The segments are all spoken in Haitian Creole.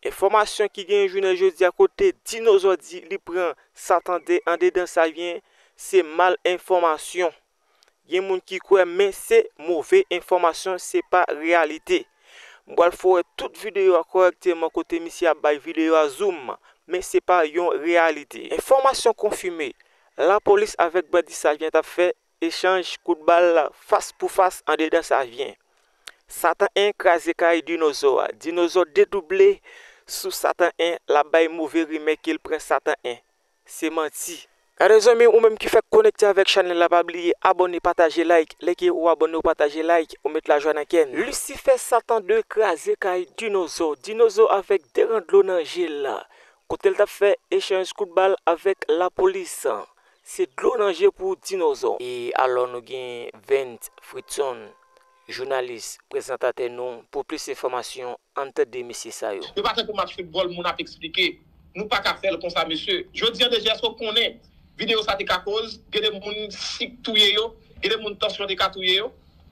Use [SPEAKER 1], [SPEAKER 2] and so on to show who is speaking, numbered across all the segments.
[SPEAKER 1] Enfòmasyon ki genyen jounen jodi a kote dinozò di li pran sa tande andedan sa vyen se mal enfòmasyon. Gen moun ki kwè men se move enfòmasyon se pa reyalite. M pral fè w wè tout videyo a kòrèkteman kote misye ap bay videyo a zoom men se pa yon reyalite. Enfòmasyon konfime, lapolis avèk bandi sa vyen t ap fè Echanj kout bal fas pou fas andedan Savyen. Satan 1 kraze kay Dinozò a. Dinozò dedouble sou Satan 1 l ap bay move rimè ke l pran Satan 1. Se manti. Gade zanmi ou menm ki fèk konekte avèk chanèl la pa bliye abòne pataje like lè ke ou abòne ou pataje like ou met lajwa nan kè n. Lisifè Satan 2 kraze kay Dinozò. Dinozò avèk 2 ran dlo nan je l kote l t ap fè echanj kout bal avèk lapolis. Se dlo nan je pou dinozò. E alò nou gen Vens Fridson, jounalis, prezantatè nou pou plis enfòmasyon ann tande mesye sa yo. Yo pa tankou match football
[SPEAKER 2] moun ap esplike nou paka fèl konsa mesye jodi an deje eske ou konnen video sa te ka koz gen de moun sik touye yo gen de moun tansyon te ka touye yo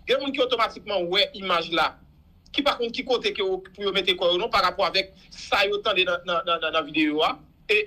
[SPEAKER 2] gen moun ki otomatikman wè imaj la ki pa konn ki kote ke pou yo mete kò yo non parapò avèk sa yo tande nan nan video a e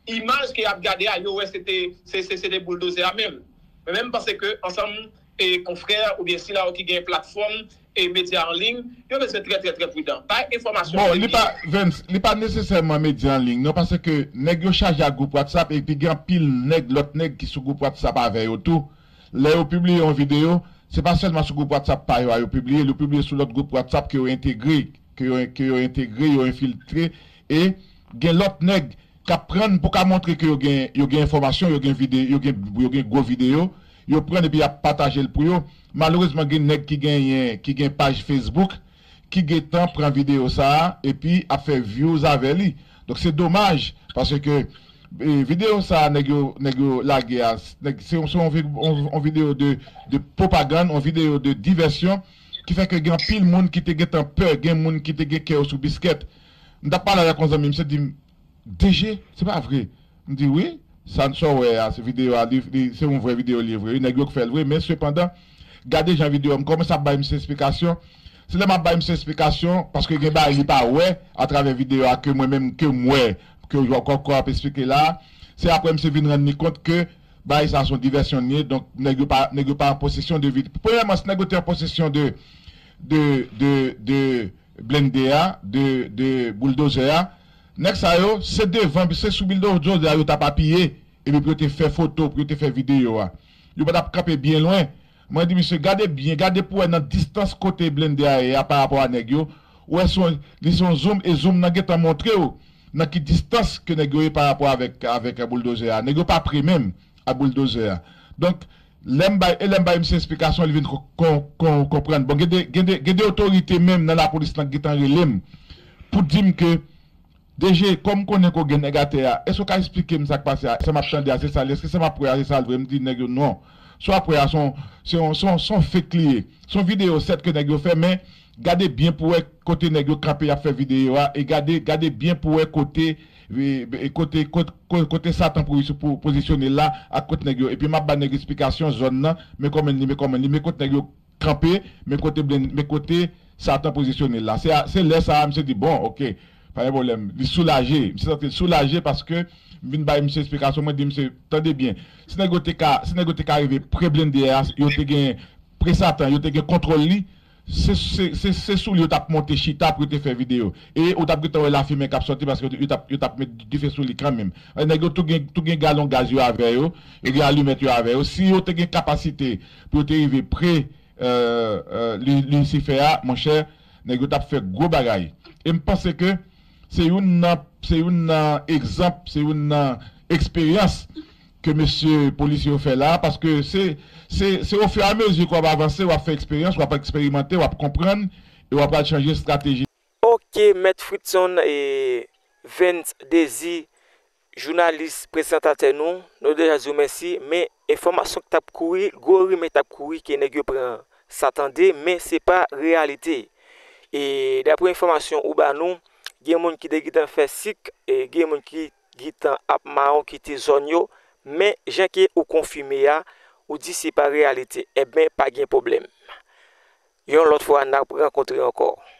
[SPEAKER 2] Imaj ke yap gade a yo wè se te se te bouldozè a menm. Men menm panse ke ansanm e konfrè oubyen sila yo ki gen platfòm e medya an liy yo bezwen trè trè trè pridan. Bay enfòmasyon Bon li pa serye. Vens,
[SPEAKER 3] li pa nesesèman medya an liy non pase ke nèg yo chaje ak gwoup whatsapp epi gen anpil nèg lòt nèg ki sou gwoup whatsapp avè yo tou. Lè yo pibliye yon videyo, se pa sèlman sou gwoup whatsapp pa yo a yo pibliye l, yo pibliye sou lòt gwoup whatsapp ke yo entegre ke yo entegre, yo enfiltre E gen lòt nèg k ap pran pou ka montre ke yo gen yo gen enfòmasyon, yo gen vide yo gen yo gen gwo videyo, yo pran epi y ap pataje l pou yo. Malerezman gen nèg ki genyen ki gen paj Facebook ki gentan pran videyo sa a epi ap fè vyouz avè li. Donk se domaj paske videyo sa a nèg yo nèg yo lage a nèg se yon se yon yon videyo de de pwopagann, yon videyo de divèsyon ki fè ke gen anpil moun ki te gentan pè, gen moun ki te gen kè yo sou biskèt. M t ap pale avèk yon zanmi m, misye di m, DG, se pa vre? M di, Wi, sa w wè a, se videyo a, se yon vrè videyo li ye vre wi, nèg yo k fè l vre, men sepandan, gade jan videyo a, m kòmanse ap bay misye esplikasyon, se lè m ap bay misye esplikasyon, paske gen bagay li pa wè atravè videyo a ke mwen menm ke m wè, ke w k ap esplike la a, se aprè misye vin rann li kont ke bagay sa a se yon divèsyon li ye, donk nèg yo pa, nèg yo pa an posesyon de, premyèman si nèg yo te an posesyon de, de, de, de. blende a de de bouldozè a nèg sa yo se devan se sou bildozdozè a yo tap apiye epi pou yo te fè foto pou yo te fè video a yo pa tap kanpe byen lwen mwen di misye gade byen gade pou wè nan distans kote blende a ye a pa rapò a nèg yo ou wè son li son zoom e zoom nan gentan montrew nan ki distans ke nèg yo ye pa rapò avèk avèk bouldozè a nèg yo pa pre menm ak bouldozer a donk lèm bay e lèm bay misye esplikasyon li vin kon konprann bon gende gende gende otorite menm nan lapolis lan ki gentan relem pou dim ke DG kòm konnen ke w gen nèg atè a èske w ka esplikem sak pase a sa map tande a se sa l ye èske sa map wè a se sa l vre m di nèg yo non sa wap wè a son son son son fake li ye son video sèt ke nèg yo fè men gade byen pou wè kote nèg yo kanpe yap fè video a e gade gade byen pou wè kote Kote kote satan pou pozisyone l la ak kot nèg yo epi map ba nèg esplikasyon zòn nan men kòmn li men kòmn li men kot nèg yo kanpe men kote blend men kote satan pozisyone l la se lè sa misye di bon ok pa gen pwoblèm li soulaje misye santi l soulaje paske m vin bay misye esplikasyon mwen di misye tande byen si nèg yo te ka si nèg yo te ka rive pre blende a yo te gen pre satan yo te gen kontwòl li Se se sou li yo tap monte chita pou yo te fè video e ou tap gentan wè lafimen kap sòti paske yo tap met dife sou li kanmenm. Nèg yo tou gen galon gaz yo avè yo, yo gen alimèt yo avè yo, si yo te gen kapasite pou yo te rive pre lisifè a monchè nèg yo tap fè gwo bagay e m panse ke se youn nan egzanp, se youn nan eksperyans ke mesye polisye yo fè la a paske se se se o fur a mesure ke wap avanse wap fè eksperyans wap eksperimante wap konprann e wap pral chanje strateji. Ok mèt
[SPEAKER 1] Fritson e Vens Désir jounalis prezantatè nou, nou deja di w mèsi men enfòmasyon k tap kouri gwo rimè tap kouri ke nèg yo pran sa tande men se pa reyalite e daprè enfòmasyon ou ba nou gen moun ki te gentan fè sik e gen moun ki Gitan ap maron kite zòn yo men jan ke ou konfime a ou di se pa reyalite ebyen pa gen pwoblèm yon lòt fwa nap rankontre ankò.